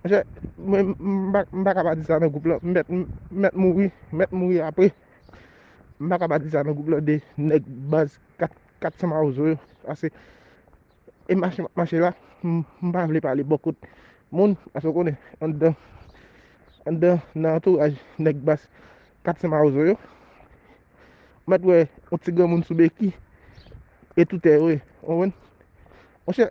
Monchè, mwen m pa ka pa di sa nan gwoup lan, m mèt mouri, m mèt mouri apre. M pa ka pa di sa nan gwoup lan de nèg baz 400 mawozo yo. Ase, e mache m ap mache la, m pa vle pale bò kot moun, ase w konnen, anndan, anndan nan antouraj nèg baz 400 mawozo yo, m mèt wè yon ti granmoun sou beki, etoutè yo ye, w konprann? Monchè!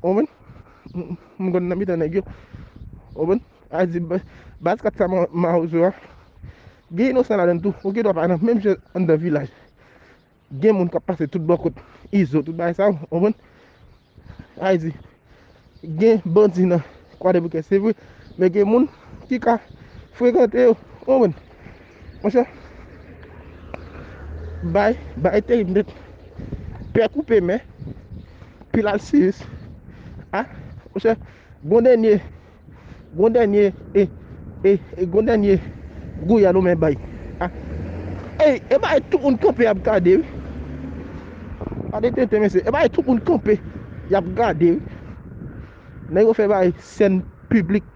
Konprann? M konn nan mitan nèg yo. Konprann? A di baz 4 sa mawozo a, gen inosan ladan l tou. Ou gen dwa pa nan menm jan anndan vilaj. Gen moun k ap pase tout bò kot izo, tout bagay sa yo. Konprann? A di gen bandi nan kwadèboukè se vre, men gen moun ki ka frekante yo. Konprann? Monchè Bay Bay terib nèt Pè koupe men Pil al siris A Monchè Gon dènye Gon dènye E E E Gon dènye Gouya nou men Bay A Ey E Bay tout moun kanpe ap gade wi Gade tenten mesye E Bay tout moun kanpe Yap gade wi Nèg yo fè Bay sèn piblik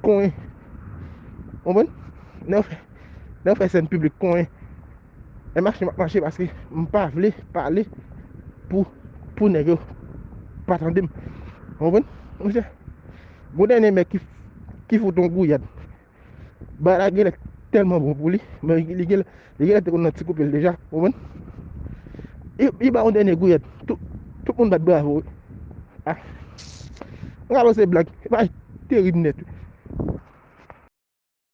Kon Konprann? Lè yo fè, lè yo fè sèn piblik kon e, e mache map mache paske m pa vle pale pou, pou nèg yo pa tande m. Konprann? Monchè, gon dènye mèt ki, ki fout on gouyad. Bagay la genlè tèlman bon pou li, men li genlè, Li genlè te konn nan ti koupe l deja, ou konprann? Li ba yon dènye gouyèt, tout moun bat bravo wi. A! Mwen ka panse se blag, imaj terib nèt wi.